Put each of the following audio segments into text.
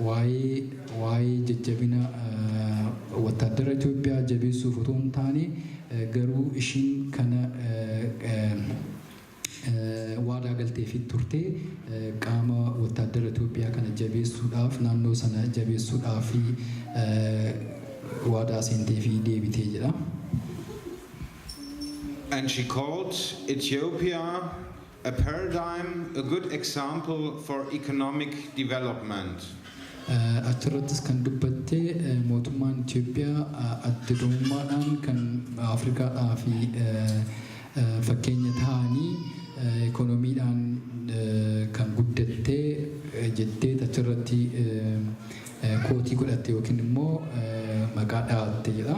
Waa'ee waa'ee jajjabina wattaaddara Itoophiyaa jabeessuuf otoo hin taane garuu ishiin kana waadaa galteefiit turte qaama wattaaddara Itoophiyaa kana jabeessuudhaaf naannoo sana jabeessuudhaaf waadaa seenteefii deebite jedha. And she called Ethiopia. A paradigm, a good example for economic development. Achirrattis kan dubbatte mootummaan Itoophiyaa adda durummaadhaan kan Afrikaadhaaf fakkeenya ta'anii ikoonomiidhaan kan guddatte jetteet achirratti kootii godhatte yookiin immoo maqaa dha'atte jedha.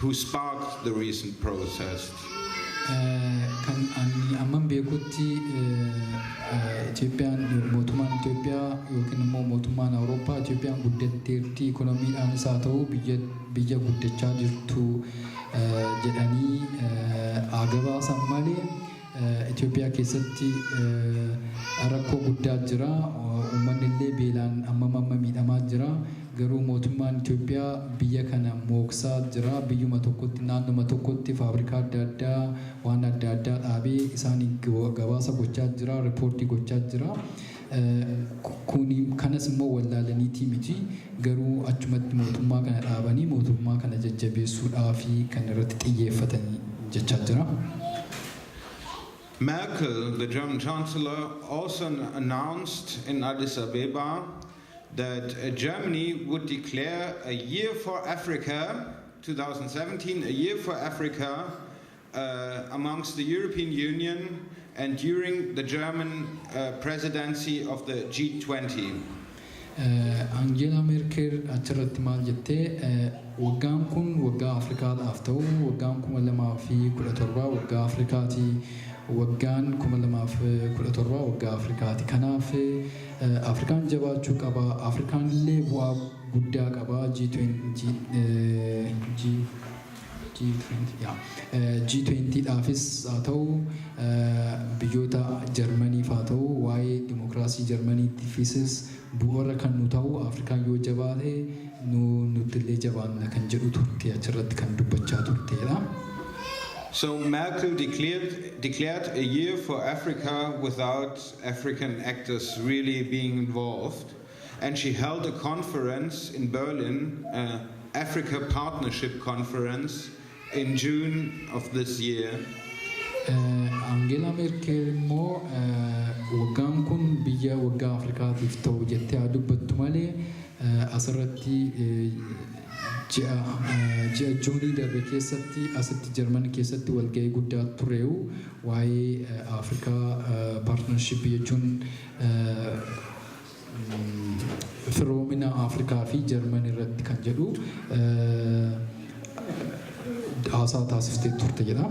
Who sparked the recent protests? Kan ani amman beekutti Itoophiyaan mootummaan Itoophiyaa yookiin immoo mootummaan Awurooppaa Itoophiyaan guddatteerti ikonomiidhaanis haa ta'u biyya biyya guddachaa jirtu jedhanii haa gabaasan malee Itoophiyaa keessatti rakkoo guddaa jira. Uummanni illee beelaan ammam amma miidhamaa jira. Garuu mootummaan Itoophiyaa biyya kana mooksaa jira. Biyyuma tokkotti naannoma tokkotti faabrikaa adda addaa waan adda addaa dhaabee isaaniin gabaasa gochaa jira, ripoortii gochaa jira. Kuni kanas immoo wallaalaniitii miti garuu achumatti mootummaa kana dhaabanii mootummaa kana jajjabeessuudhaafi kan irratti xiyyeeffatani jechaa jira. Merkel, the German Chancellor, also announced in Addis Abeba that Germany would declare a year for Africa, 2017, a year for Africa amongst the European Union and during the German uh, presidency of the G20. Angeela Merkel achirratti maal jettee eh, waggaan kun waggaa Afrikaadhaaf ta'u waggaan kuma lamaa fi kudha torbaa waggaa Afrikaati waggaan kuma lamaa fi kudha torbaa waggaa Afrikaati kanaaf eh, Afrikaan jabaachuu qaba Afrikaan illee bu'aa guddaa qaba G20 eh, G G20 dhaafis haa ta'u, biyyoota Jarmaniif haa ta'u, waa'ee dimokiraasii Jarmaniittifisis bu'uura kan nu ta'u Afrikaan yoo jabaate nu nuttillee jabaanna kan jedhu turte achirratti kan dubbachaa turteedha. So Merkel declared, declared a year for Africa without African actors really being involved. and she held a conference in Berlin, uh, Africa Partnership Conference, in June of this year. Angeelaa Meerkel immoo waggaan kun biyya waggaa Afrikaatiif ta'u jettee haa dubbattu malee asirratti ji'a Juunii darbe keessatti asitti Jarman keessatti walgahii guddaa tureewu waa'ee Afrikaa paartinarshippii jechuun firoomina Afrikaa fi Jarman irratti kan jedhu haasaa taasiftee turte jedha.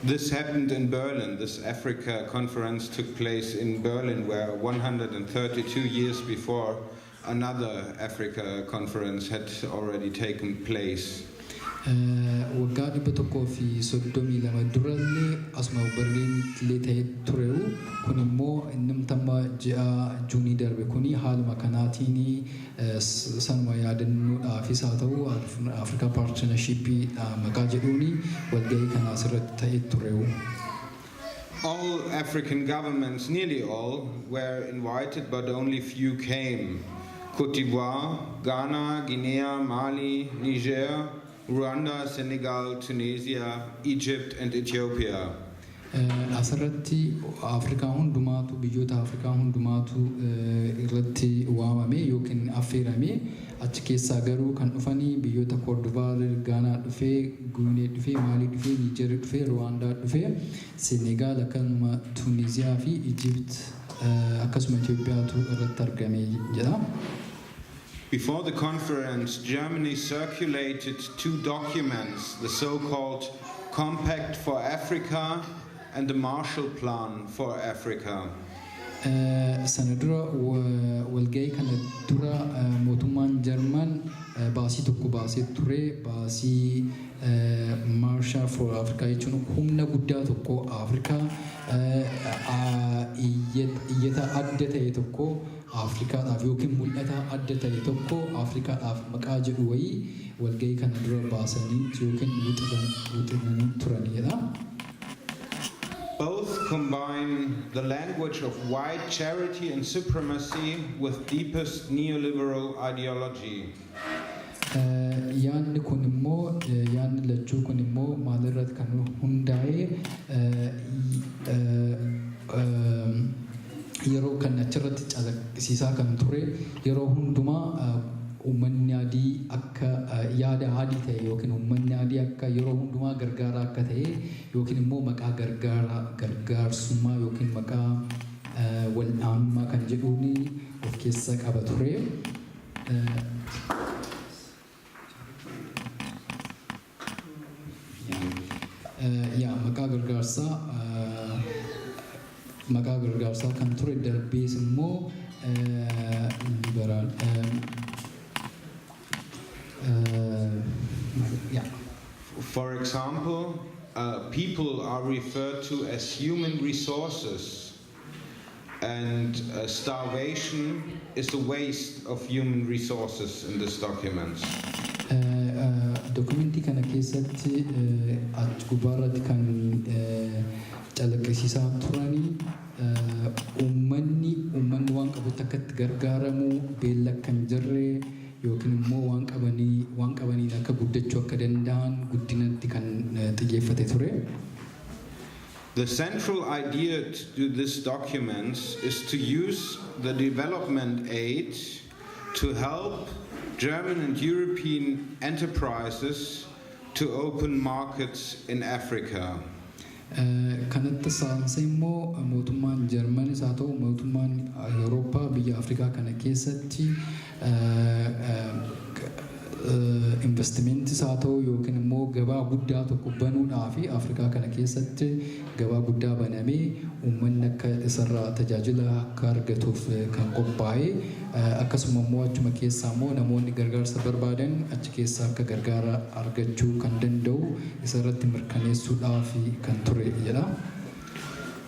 This happened in Berlin. This Africa conference took place in Berlin, where 132 years before Another Africa conference had already taken place. Waggaa 132 dura illee asuma Berliinitti illee ta'ee tureyu kun immoo innumti amma ji'a Juunii darbe kun haaluma kanaatiin sanuma yaadannoodhaafis haa ta'u Africa Partnership maqaa jedhuun walgahii kana asirratti ta'ee tureyu. All African governments, nearly all, were invited but only few came, Cote d'Ivoire, Ghana, Guinea, Mali, Niger, Rwanda, Senegal, Tunisia, Egypt and Ethiopia. Asirratti Afrikaa hundumaatu biyyoota Afrikaa hundumaatu irratti waamame yookiin affeerame. Achi keessaa garuu kan dhufani biyyoota Koordivaarr, Gaanaa dhufee, Guinee dhufee, Maalii dhufee, Niijerri dhufee, Ruwaandaa dhufee, Senegaal akkanuma Tuuniziyaa fi Ijipt akkasuma Itoophiyaatu irratti argame jedha. Before the conference, Germany circulated two documents, the so-called Compact for Africa, and the Marshall Plan for Africa. Sana dura walga'ii kana dura mootummaan Jarman baasii tokko baasee ture. Baasii Marshall for Africa jechuun humna guddaa tokko Afrikaa iyyata adda ta'e tokko Afrikaadhaaf ykn mul'ata adda ta'e tokko Afrikaadhaaf maqaa jedhu wayii walga'ii kana dura baasanii ykn wixinanii turan jedha. Both combine the language of white charity and supremacy with deepest neoliberal ideology. Yaadni kun immoo yaadni lachuu kun immoo maalirratti kan hundaa'e yeroo kan achirratti calaqqisiisaa kan ture yeroo hundumaa uummanni adii akka yaada adii ta'e yookiin uummanni adii akka yeroo hundumaa gargaaraa akka ta'e yookiin immoo maqaa gargaaraa gargaarsummaa yookiin maqaa wal'aanummaa kan jedhuun of keessa qaba ture. yaa maqaa gargaarsaa maqaa gargaarsaa kan ture darbees immoo liberaal yaa For example, uh, people are referred to as human resources and starvation is a waste of human resources in this document. Dokumentii kana keessatti achi gubbaa irratti kan calaqqisiisaa turani uummanni uummanni waan qabutti akka itti gargaaramu beelli akka hin jirre yookiin immoo waan qabanii waan qabaniin akka guddachuu akka danda'an guddinatti kan xiyyeeffate ture. The central idea to do this documents is to use the development aid to help German and European enterprises to open markets in Africa. Kanatti saanse immoo mootummaan Jarmanis haa ta'u mootummaan Awurooppaa biyya Afrikaa kana keessatti Investimentis haa ta'u yookiin immoo gabaa guddaa tokko banuudhaaf Afrikaa kana keessatti gabaa guddaa banamee uummanni akka isarraa tajaajila akka argatuuf kan qophaa'e akkasuma immoo achuma keessaa immoo namoonni gargaarsa barbaadan achi keessaa akka gargaara argachuu kan danda'u isarratti mirkaneessuudhaaf kan ture jedha.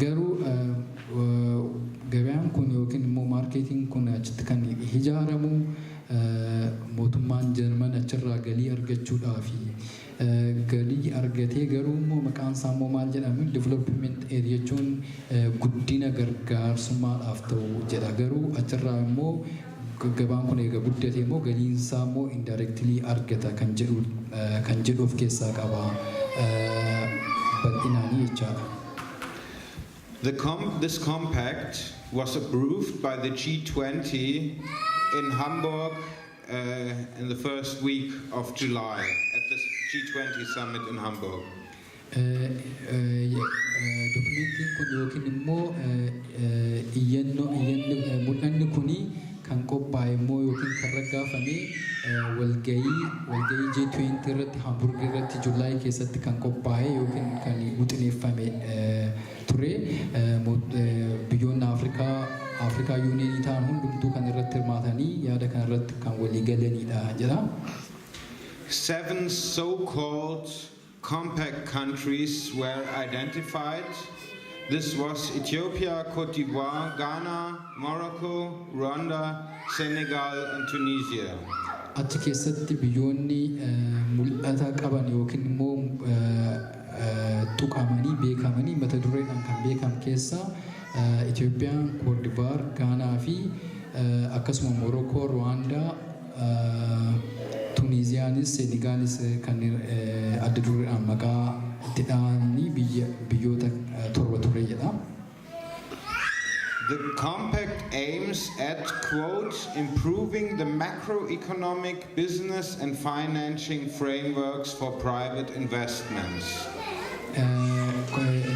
Garuu gabaan kun yookiin immoo marketing kun achitti kan hijaaramu mootummaan Jarman achirraa galii argachuudhaafi. Galii argatee garuu immoo maqaan isaa immoo maal jedhama development aid jechuun guddina gargaarsummaadhaaf ta'u jedha. Garuu achirraa immoo Gabaan kun erga guddatee immoo galiin isaa immoo indirectly argata kan jedhu kan jedhu of keessaa qaba bal'inaanii jechaadha. The com this compact was approved by the G20 in Hamburg uh, in the first week of July at the G20 summit in Hamburg. Dokumentiin kun yookiin immoo iyyannoo iyyanni mul'anni kun kan qophaa'e immoo yookiin kan raggaafame walgahii walgahii G20 irratti Hamburg irratti July keessatti kan qophaa'e yookiin kan wixineeffame ture. Biyyoonni Afrikaa Afrikaa Yuuniyeenii ta'an hundumtuu kan irratti hirmaatanii yaada kana irratti kan walii galaniidha jedha. Seven so-called compact countries were identified. This was Ethiopia, Cote d'Ivoire, Ghana, Morocco, Rwanda, Senegal and Tunisia. Achi keessatti biyyoonni mul'ata qaban yookiin immoo tuqamanii beekamanii mata dureedhaan kan beekam keessaa Itoophiyaan, Koodivaar, Gaanaa fi akkasuma Morookoo, Ruwaandaa, Tuniiziyaanis Seenigaalis kanneen adda dureedhaan maqaa itti dhahanii biyya biyyoota torba ture jedha. The compact aims at quote improving the macroeconomic, business and financing frameworks for private investments.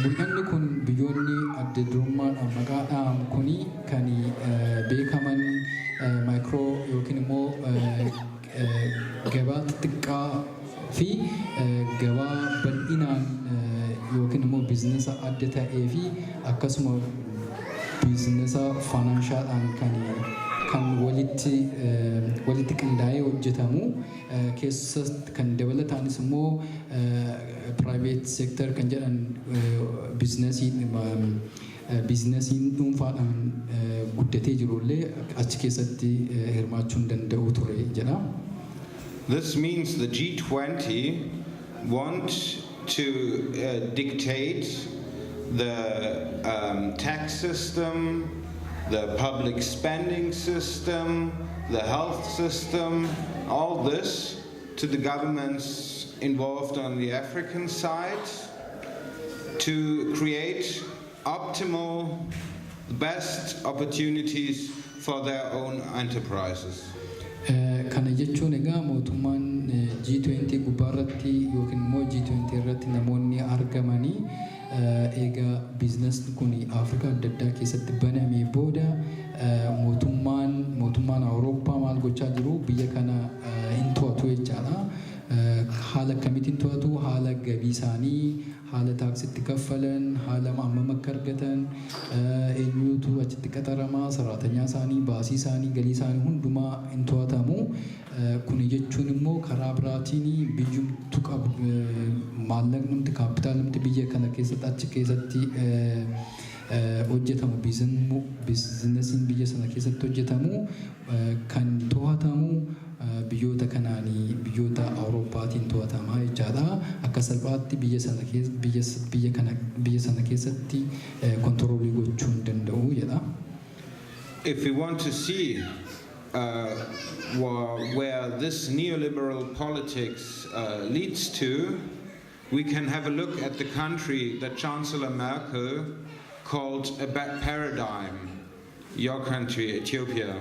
Mul'anni kun biyyoonni adda durummaadhaan maqaa dhahaman kuni kan beekaman maayikroo yookiin immoo gabaa xixiqqaa fi gabaa bal'inaan yookiin immoo biizinasa adda ta'ee fi akkasuma biizinasa faanaanshaadhaan kan kan walitti walitti qindaa'ee hojjetamu keessa kan dabalataanis immoo piraayiveet seektar kan jedhan biizinasii Biiznasiin dhuunfaadhaan guddatee jiru illee achi keessatti hirmaachuu hin danda'u ture jedha. This means the G20 want to dictate the tax system, the public spending system, the health system, all this. to the governments involved on the African side to create optimal, the best opportunities for their own enterprises. Kana jechuun egaa mootummaan G20 gubbaarratti yookiin immoo G20 irratti namoonni argamanii Eega biiznasni kun Afrikaa adda addaa keessatti banamee booda mootummaan mootummaan Awurooppaa maal gochaa jiru biyya kana hin to'atu jechaadha. Haala akkamiitiin to'atu? Haala gabii isaanii, haala taaksii itti kaffalan, haala hammam akka argatan, eenyuutu achitti qaxarama, saraatanyaa isaanii, baasii isaanii, galii isaanii hundumaa hin to'atamu. Kuni jechuun immoo karaa biraatiin biyyumtu qab maallaqnumti kaappitaalumti biyya kana keessatti achi keessatti hojjetamu biizinmu biizinasiin biyya sana keessatti hojjetamu kan to'atamu biyyoota kanaani biyyoota Awurooppaatiin to'atama jechaadha. Akka salphaatti biyya sana keessa biyya biyya kana biyya sana keessatti kontiroolii gochuu hin danda'u jedha. If we want to see where this neoliberal politics uh, leads to, we can have a look at the country that Chancellor Merkel called a bad paradigm, your country, Ethiopia.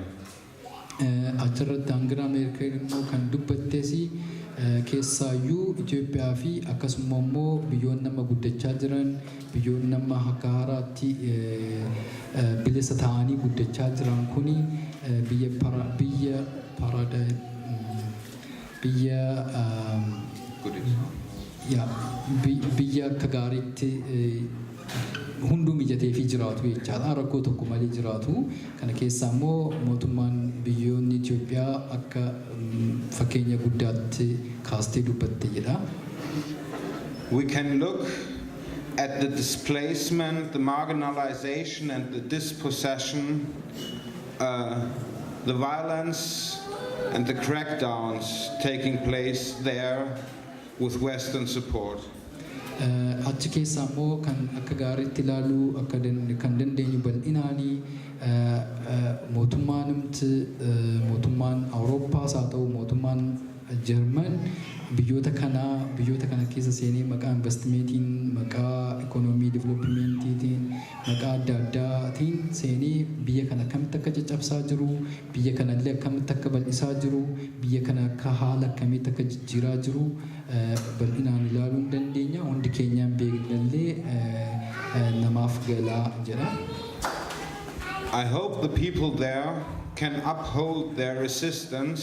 Achirratti Angela Merkel immoo kan dubbattes keessaayyuu Itoophiyaa fi akkasuma immoo biyyoonni nama guddachaa jiran Biyyoonni amma akka haaraatti bilisa ta'anii guddachaa jiran kun biyya para, biyya parada, biyya ya, bi- biyya akka gaariitti hunduu mijateefii jiraatu jechaadha. Rakkoo tokko malee jiraatu. Kana keessaa immoo mootummaan biyyoonni Itoophiyaa akka mm, fakkeenya guddaatti kaastee dubbatte jedha. We can look at the displacement, the marginalization and the dispossession, uh, the violence and the crackdowns taking place there with Western support. Eh, achi keessaa immoo kan akka gaariitti ilaaluu akka dan- kan dandeenyu bal'inaani eh, eh, mootummaan himti eh, mootummaan awurooppaas haa ta'u mootummaan Jarman biyyoota kanaa biyyoota kana keessa seenee maqaa invastimeetiin, maqaa ikoonoomii diviloopimeentiitiin, maqaa adda addaa tiin seenee biyya kana akkamitti akka caccabsaa jiru, biyya kana illee akkamitti akka bal'isaa jiru, biyya kana akka haala akkamiitti akka jijjiiraa jiru bal'inaan ilaaluu hin dandeenya. Hundi keenyaa hin beekna illee namaaf gala jedha. I hope the people there can uphold their resistance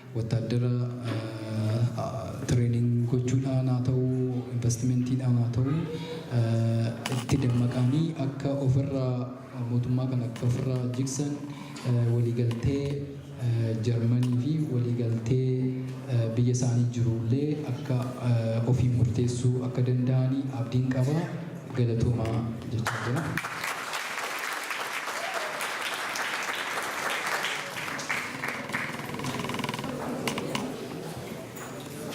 wattaaddara training gochuudhaan haa ta'u, investmentiidhaan haa ta'u itti dammaqaanii akka ofirraa mootummaa kana akka ofirraa jigsan waliigaltee Jarmanii fi waliigaltee biyya isaanii jiru illee akka ofiin murteessuu akka danda'an abdiin qaba. Galatoomaa jechaa jira.